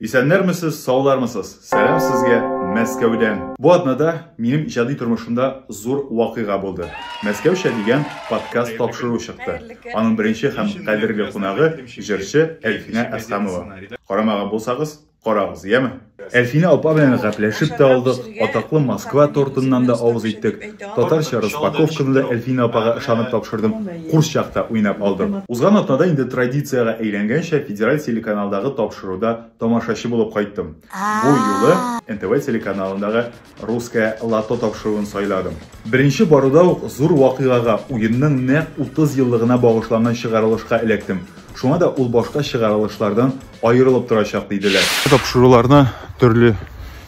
Исәннәрмесез, саулармысыз? Сәлам сезгә Мәскәүдән. Бу атнада минем иҗади тормышымда зур вакыйга булды. Мәскәүчә дигән подкаст тапшыру чыкты. Аның беренче һәм кадерле кунагы җырчы Әлфинә Әсхамова. Карамаган булсагыз, карагыз, яме? Әлфинә апа белән гәпләшеп тә алдык, атаклы Москва тортыннан да авыз иттек. Татарча распаковканы да Әлфинә апага ышанып тапшырдым. Курс чакта уйнап алдык. Узган атнада инде традициягә әйләнгәнчә федераль телеканалдагы тапшыруда тамашачы булып кайттым. Бу юлы НТВ телеканалындагы Русское лото тапшыруын сайладым. Беренче баруда ук зур вакыйгага, уенның нәкъ 30 еллыгына багышланган чыгарылышка эләктем. Шуңа да ул башка чыгарылышлардан аерылып торачак, диделәр. Тапшыруларны төрле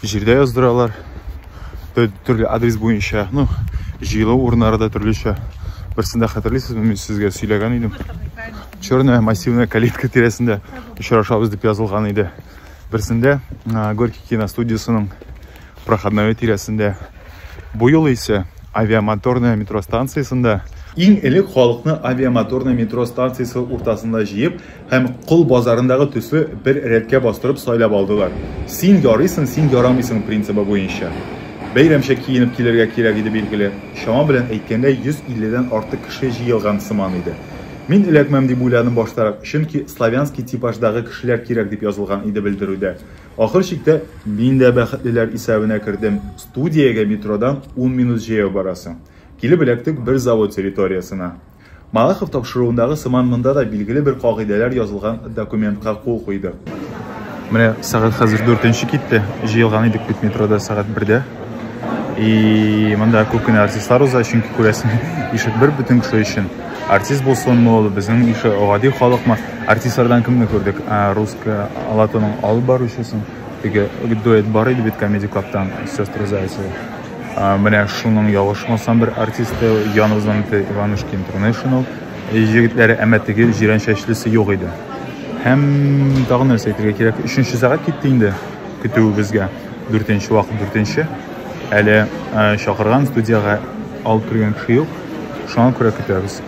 җирдә яздыралар, төрле адрес буенча, ну, җыелу урыннары да төрлечә. Берсендә хәтерлисезме, мин сезгә сөйләгән идем. Черная массивная калитка тирәсендә очрашабыз дип язылган иде. Берсендә Горький киностудиясенең Проходное тирәсендә. Бу юлы исә авиамоторная метро станциясендә Иң элек халыкны авиамоторная метро станциясе уртасында җыеп һәм Кол базарындагы төсле бер рәткә бастырып сайлап алдылар. Син ярыйсың, син ярамыйсың принцибы буенча. Бәйрәмчә киенеп килергә кирәк иде билгеле. Чама белән әйткәндә 150 дән артык кеше җыелган сыман иде. Мин эләкмәм дип уйладым баштарак, чөнки славянский типаждагы кешеләр кирәк дип язылган иде белдерүдә. Ахыр чиктә мин дә бәхетлеләр исәбенә кердем. Студиягә метродан ун минут җәяү барасың. Килеп эләктек бер завод территориясенә. Малахов тапшыруындагы сыман монда да билгеле бер кагыйдәләр язылган документка кул куйдык. Менә сәгать хәзер дүртенче китте. Җыелган идек бит метрода сәгать бердә. И монда күп кенә артистлар уза, чөнки күрәсең, ишек бер бөтен кеше өчен. Артист булсынмы ул, безнең ише гади халыкмы? Артистлардан кемне күрдек? Русская Алатоның алып баручысын, теге дуэт бар иде бит Comedy Club-тан, сестры Зайцевы. Менә шуның ялгышмасам бер артисты, Янузан Иванушки International җегетләре, әмма теге җирән чәчлесе юк иде. Һәм тагын нәрсә әйтергә кирәк, өченче сәгать китте инде көтүебезгә. Дүртенче вакыт дүртенче. Әле чакырган студиягә алып кергән кеше юк. Шуңа күрә көтәбез.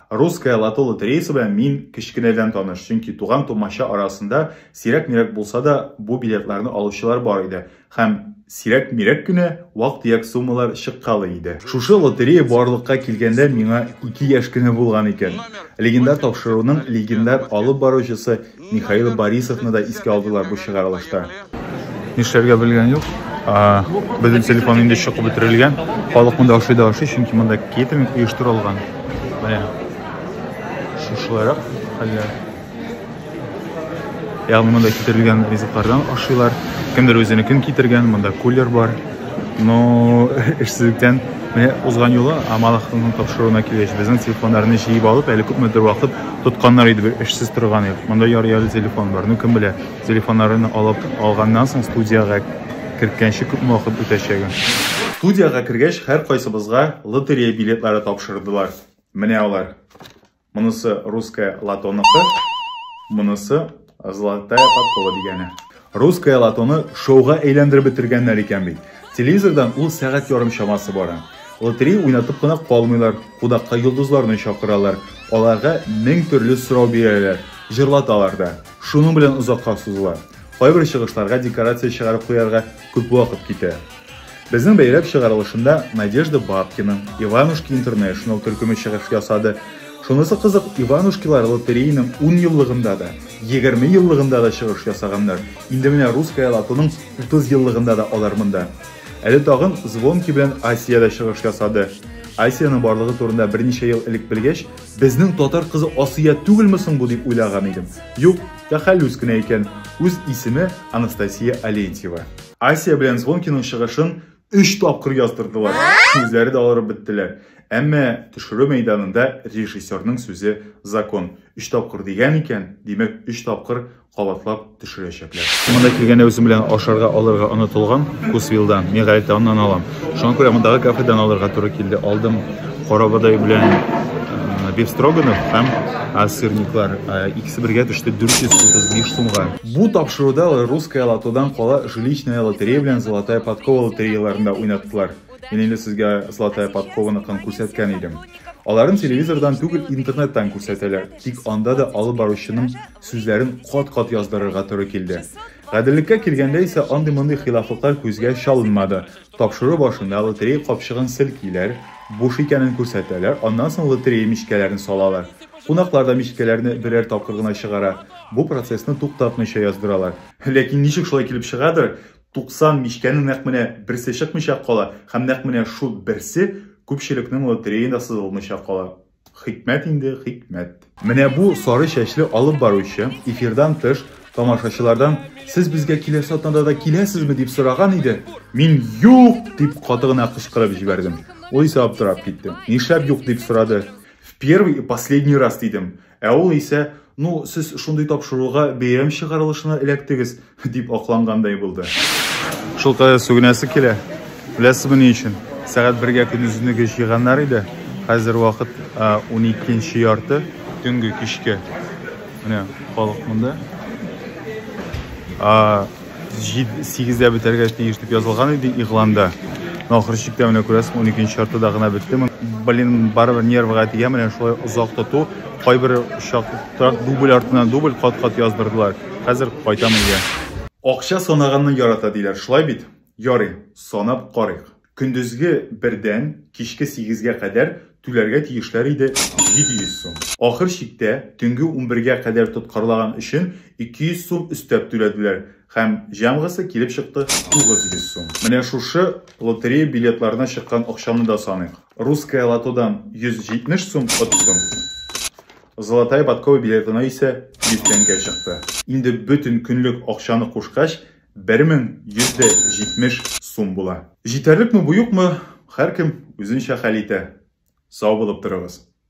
Русская лото лотереясы белән мин кечкенәдән таныш, чөнки туган-тумача арасында сирәк-мирәк булса да бу билетларны алучылар бар иде һәм сирәк-мирәк кенә вак-төяк суммалар чыккалы иде. Шушы лотерея барлыкка килгәндә миңа ике яшь кенә булган икән. Легендар тапшыруның легендар алып баручысы Михаил Борисовны да искә алдылар бу чыгарылышта. Нишләргә белгән юк. Безнең телефон инде чыгып бетерелгән. Халык монда ашый да ашый, чөнки монда кейтеринг оештырылган. Менә шушыларак хәлләр. Ягъни монда китерелгән ризыклардан ашыйлар. Кемдер үзенекен китергән, монда кулер бар. Но эшсезлектән менә узган юлы Амалахның тапшыруына килгәч, безнең телефоннарны җыеп алып, әле күпмедер вакыт Тотканнар иде бит, эшсез торган ел. Монда ярый-ярый телефон бар. Ну, кем белә, телефоннарын алып алганнан соң студиягә керткәнче күпме вакыт үтәчәген. Студиягә кергәч, һәркайсыбызга лотерея билетлары тапшырдылар. Менә алар. Монысы Русское лотоныкы, монысы Золотая подкова дигәне. Русская лотоны шоуга әйләндереп бетергәннәр икән бит. Телевизордан ул сәгать ярым чамасы бара. Лотерей уйнатып кына калмыйлар, кудакка йолдызларны чакыралар. Аларга мең төрле сорау бирәләр, җырлаталар да. Шуның белән озакка сузыла. Кайбер чыгышларга декорация чыгарып куярга Күп вакыт китә. Безнең бәйрәк чыгарылышында Надежда Бабкина, Иванушки Интернешнл төркеме чыгыш ясады. Шунысы кызык, Иванушкилар лотереяның 10 еллыгында да, 20 еллыгында да чыгыш ясаганнар. Инде менә Русская лотоның 30 еллыгында да алар монда. Әле тагын Звонки белән Асия дә чыгыш ясады. Асиянең барлыгы турында берничә ел элек белгәч, Безнең татар кызы Асия түгелме соң бу дип уйлаган идем. Юк, тәхәллүс кенә икән. Үз исеме Анастасия Алентьева. Асия белән Звонкиның чыгышын өч тапкыр яздырдылар. Үзләре дә алырып беттеләр. Әмма төшерү мәйданында режиссерның сүзе закон. Өч тапкыр дигән икән, димәк, өч тапкыр кабатлап төшерәчәкләр. Монда килгәндә үзем белән ашарга алырга онытылган Кусвилдан. Мин гадәттә аннан алам. Шуңа күрә мондагы кафедан алырга туры килде. Алдым карабодай белән э, биф строганов һәм э, сырниклар. Э, икесе бергә төште 435 сумга. Бу тапшыруда русская лотодан кала жилищная лотерея белән золотая подкова лотереяларында уйнаттылар. Мин инде сезгә золотая подкованыкын күрсәткән идем. Аларын телевизордан түгел, интернеттан күрсәтәләр. Тик анда да алып баручының сүзләрен кат-кат яздырырга туры килде. Гаделлеккә килгәндә исә андый-мондый хилафлыклар күзгә чалынмады. Тапшыру башында лотерея капчыгын селкиләр, буш икәнен күрсәтәләр, аннан соң лотерея мичкәләрен салалар. Кунаклар да мичкәләрне берәр тапкыр гына чыгара, бу процессны туктатмыйча яздыралар. Ләкин ничек шулай килеп чыгадыр, 90 мичкәнең нәкъ менә берсе чыкмыйча кала һәм нәкъ менә шул берсе күпчелекнең лотереенда сызылмыйча кала. Хикмәт инде, хикмәт. Менә бу сары чәчле алып баручы, эфирдан тыш, тамашачылардан, Сез безгә киләсе атнада да киләсезме? дип сораган иде. Мин юк! дип каты гына кычкырып җибәрдем. Ул исә аптырап китте. Нишләп юк дип сорады? В первый и последний раз, дидем. Ә ул исә Ну, сез шундый тапшыруга бәйрәм чыгарылышына эләктегез, дип аклангандай булды. Шул кадәр сүгенәсе килә. Беләсезме ни өчен? Сәгать бергә көндезенеге җыйганнар иде. Хәзер вакыт 12 ярты, төнге кичке. Менә халык монда. 8-дә бетәргә тиеш дип язылган иде игъланда. Ахыр чиктә менә күрәсең 12 чарты да гына бетте. Блин, барыбер нервга тия менә шулай озак тоту. Кайбер чакта дубль артыннан дубль кат-кат яздырдылар. Хәзер кайтам өйгә. Акча санаганны ярата диләр, шулай бит? Ярый, санап карыйк. Көндезге бердән кичке сигезгә кадәр түләргә тиешләр иде 700 сум. Ахыр чиктә, төнге унбергә кадәр тоткарлаган өчен 200 сум өстәп түләделәр һәм җәмгысы килеп чыкты 900 сум. Менә шушы лотерея билетларына чыккан акчаны да саныйк. Русское лотодан 170 сум оттым, Золотая подкова билетына исә 100 тәңкә чыкты. Инде бөтен көнлек акчаны кушкач, 1170 сум була. Җитәрлек ме бу юк мы, хәркем үзенчә хәл итә. Сау булып торыгыз.